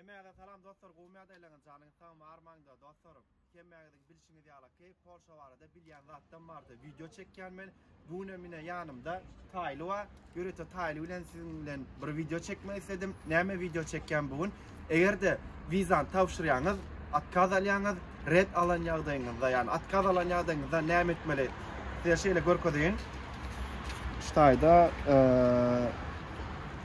Hemmäňize salam dostlar gowy mädäýleňiz janyňyz sagmy armaňda dostlarym hemmäňiziň bilşiňiz ýala keýp polşa barada bilýän zatdan bardy wideo çekýän men bu güne mine ýanymda taýly wa ýörete taýly bilen siziň bilen bir wideo çekmek isledim näme wideo çekýän bu gün egerde wizany tabşyrýaňyz atkaz alýaňyz red alan ýagdaýyňyzda ýani atkaz alan ýagdaýyňyzda näme etmeli size şeýle görkezeýin şu taýda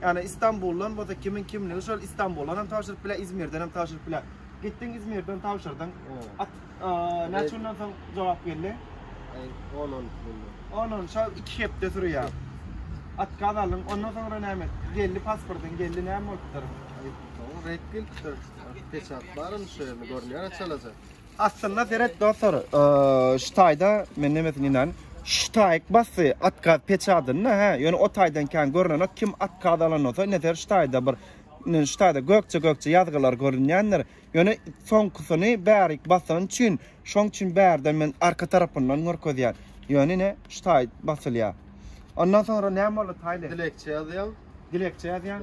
Ýagny Istanbuldan bolsa kimiň kimligi şol Istanbuldan hem tabşyryp biler, İzmirden hem tabşyryp biler. Gitdiň İzmirden tabşyrdyň. At näçe günden soň jogap geldi? 10-10 günden. 10-10 şol 2 hepde sürýär. Atkaz aldyň, ondan soňra näme? Geldi pasportyň, geldi näme bolupdyr? Red gelipdir. Peçat barmy şu ýerde görünýär çalaja. Aslynda seret dostlar, şu taýda men nemesin inan, şu taýyk basy atkaz peçadynda, hä, ýöne o taýdan kän görnenok, kim atkaz alan bolsa, ine şu taýda bir, ine şu taýda gökje-gökje ýazgylar görünýändir, ýöne soňkusyny bärik basan üçin, şoň üçin bärden men arka tarapyndan görkezýän, ýöne ine şu taý basylýar. Ondan soňra näme boldy taýly? Dilekçe ýazýaň. Dilekçe ýazýaň.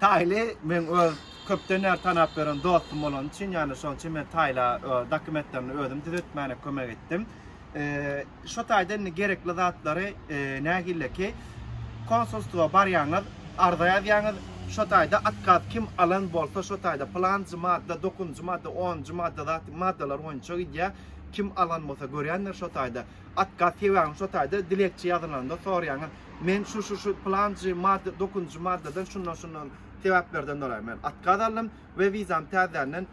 Taýly men öz köpden bäri tanap ýören dostum bolany üçin, ýagny şonuň üçin men Taýla dokumentlerini özüm düzetmäne kömek etdim. Şu taýdan indi gerekli zatlary nähilleki konsulstwa barýaňyz, arza ýazýaňyz, şu taýda atkaz kim alan bolsa, şu taýda pylanjy madda, dokuzynjy madda, onunjy madda zat maddalar boýunça gidýär. Kim alan bolsa görýändir şu taýda. At gaz sebäbini şo taýda dilekçe ýazylanda soraýaňyz. Men şu şu şu pylanjy madda dokuzynjy maddadan şundan şundan sebäplerden doly men at gaz aldym we wizam täzänden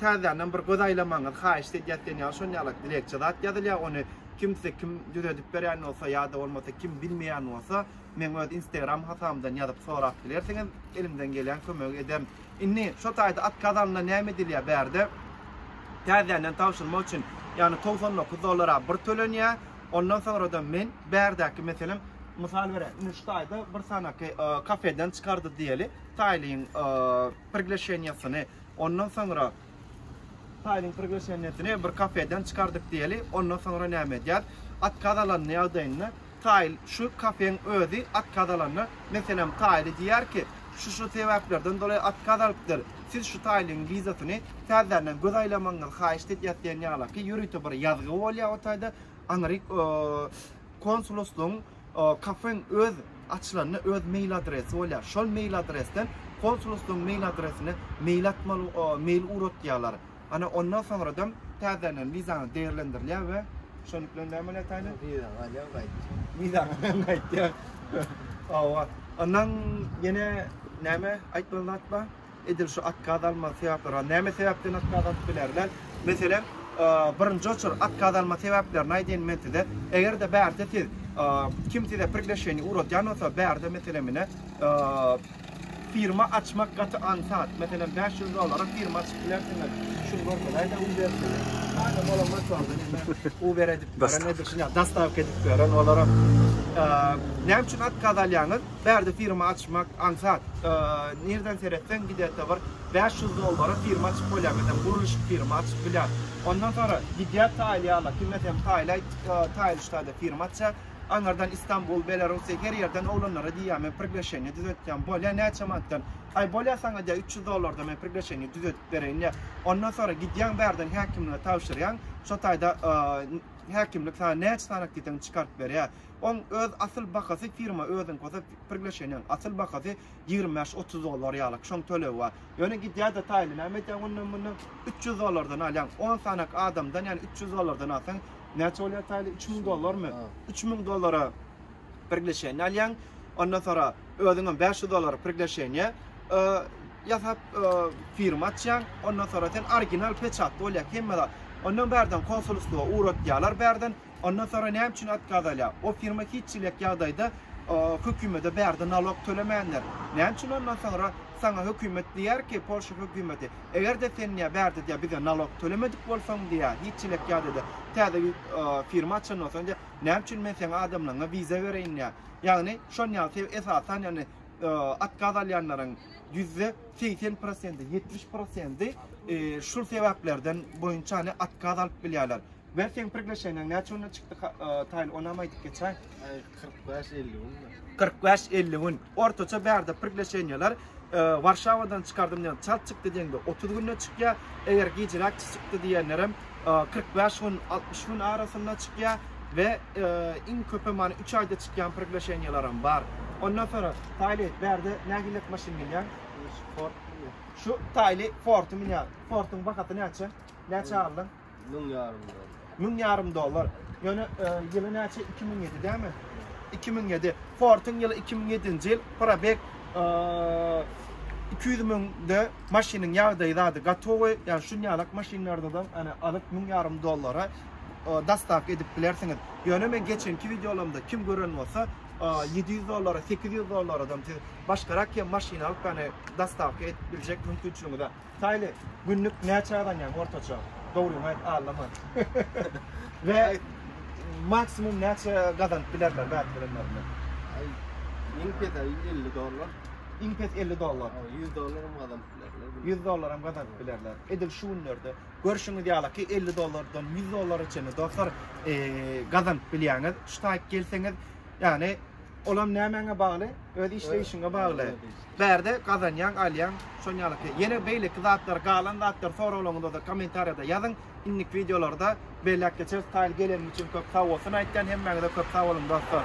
täzänden bir göz aýlamagyňyzy haýyşt edýäs diýen ýaly şon ýalak dilekçe zat ýazylýar ony kimse kim düzedip berýän bolsa ýa-da bolmasa kim bilmeýän bolsa meň öz instagram hasabymdan ýazyp sorap bilersiňiz elimden gelýän kömegi ederin. Indi şo taýda atkaz alynda näme edilýär? Bärde täzeden tabşyrmak üçin, ýagny togsan dokuz dollara bir tölenýär, ondan soňra-da men bärdäki meselem, mysal bereýin, indi şu taýda bir sanaky kafeden çykardy diýeli, taýlyň prigleşeniýasyny, ondan soňra, Faýlyň priglasheniýesini bir kafeden çykardyk diýeli, ondan soňra näme edýäs? Otkaz alan ýagdaýynda faýl şu kafeň özi otkaz alanda, meselem, faýly diýýär ki, şu-şu sebäplerden doly otkaz alypdyr, siz şu faýlyň wizasyny täzeden göz aýlamagyňyzy haýyşt edýäs diýen ýalyki ýörite bir ýazgy bolýar o taýda, aňryk konsuluslygyň Kafeň öz açylanda öz mail adresi bolýar. Şol mail adresden konsulhuslygyň mail adresine mail atmaly mail ugratýarlar. Ana ondan soňradam täzeden wizaňyz degerlendirilýär we şonuň bilen näme bolýar taýly? Wizaňy alýaň gaýtýaň. Wizaňy alýaň gaýtýaň. Hawa. Ondan ýene näme aýtmaly zat bar? Edil şu atkaz alma sebäpleri näme sebäpden atkaz alyp bilerler? Meselem, birinji oçur atkaz alma sebäplerini aýdaýyn men size. Eger-de bärde siz kim size prigleşeni ugradýan bolsa, bärde meselem ine firma açmak gaty ansat. Meselem 500 dollara firma açyp bilersiňiz. Şu gorkulaýda u bersin. Hada bolan maçlarda u beredip, beredip, dastawka edip beren olara. Näme üçin atkaz alýaňyz? Bärde firma açmak aňsat. Nireden seretseň giderde bir bäş ýüz dollara firma açyp bolýar. Meselem gurluşyk firma açyp bilýär. Ondan soňra gidýär taýlyýarlar. Kimler hem taýlaý taýlyşlarda firma açýar. Aňardan Istanbul, Belarusiýa her ýerden oglanlara diýýär men priglaşeniýe düzetýän. Bolýar näçe manatdan? Aý bolýar saňa diýýär üç ýüz dollarda men priglaşeniýe düzetip bereýin diýýär. Ondan soňra gidýäň bärden häkimlige tabşyrýaň. Şo taýda häkimlik saňa näçe sanak diýseň çykaryp berýär. Oň öz asyl bahasy firma özüňki bolsa pirgleşeniň asyl bahasy ýigrimi bäş otuz dollar ýalyk şoň tölegi bar ýöne gidýä de taýly näme edýäň ondan mundan üç ýüz dollardan alýaň on sanak adamdan ýani üç ýüz dollardan alsaň näçe bolýa taýly üç müň dollarmy üç müň dollara pirgleşeni alýaň ondan sonra özüňem bäş ýüz dollara pirgleşeniýe ýasap firma açýaň ondan sonra sen original peçatly bolýa hemme zat ondan bärden konsulstwa ugratýalar bärden Ondan sonra näme üçin otkaz alýa? O firma hiç çilek ýagdaýda hökümede bärde nalog tölemändir. Näme üçin ondan sonra saňa hökümet diýýär ki, Polşa hökümeti, eger-de sen diýýär bärde diýýär bize nalog tölemedik bolsaň diýýär, hiç çilek ýagdaýda täze firma açan bolsaň diýýär, näme üçin men seň adamlaryňa wiza bereýin diýýär. Ýagny şon ýaly sebäp esasan ýagny otkaz alýanlaryň ýüzde segsen prosenti, ýetmiş prosenti şul sebäplerden boýunça ýagny otkaz alyp bilýärler. Ber seň priglaşeniýaň näçe günde çykdy taýly onam aýdyp geçäý. Aý 45-50 gün. 45-50 gün. Ortaça bärde priglaşeniýalar Warşawadan çykardym diýen çalt çykdy diýende 30 günde çykýar. Eger gijiräk çykdy diýenlerem 45 gün 60 gün arasynda çykýar we iň köpi many 3 aýda çykýan priglaşeniýalaram bar. Ondan sonra taýly bärde nähilek maşyn minýär? Sport. Şu taýly Ford minýär. Fordyň bahasy näçe? Näçe aldyň? Müň ýarym dollar. Müň ýarym dollar. Ýöne e, ýyly näçe? 2007 dämi? 2007. Ford'un ýyly 2007-nji ýyl. Probek e, 200 müňde maşynyň ýagdaýy zady gatowy. Ýani şunýalak maşynlarda da ana alyp müň ýarym dollara e, dastak edip bilersiňiz. Ýöne men geçenki wideolarymda kim gören bolsa 700 dollara, 800 dollara adam siz başgarak hem maşyn alyp, yani dastavka edip biljek mümkinçiligiňiz Taýly günlük näçe gazanýaň ortaça? Dogryňy aýt, aldama. We maksimum näçe gazanyp bilerler wagt bilenlerinde? Ay, iň pes ay 50 dollar. Iň pes 50 dollar. Ay, 100 dollar hem gazanyp bilerler. 100 dollar hem gazanyp bilerler. Edil şu günlerde görşüňiz ýaly ki 50 dollardan 100 dollara çenli dostlar e, gazanyp bilýäňiz. Şu taýyk gelseňiz, yani olam nämäňe bagly? Öz işleýişiňe bagly. Bärde gazanýaň alýaň şon ýalyky. Ýene beýleki zatlar galan zatlar soraglaňyzda kommentariýada ýazyň. Innik wideolarda belläp geçeris. Taýly geleniň üçin köp sagbolsun aýtýan hemmäňize köp sagboluň dostlar.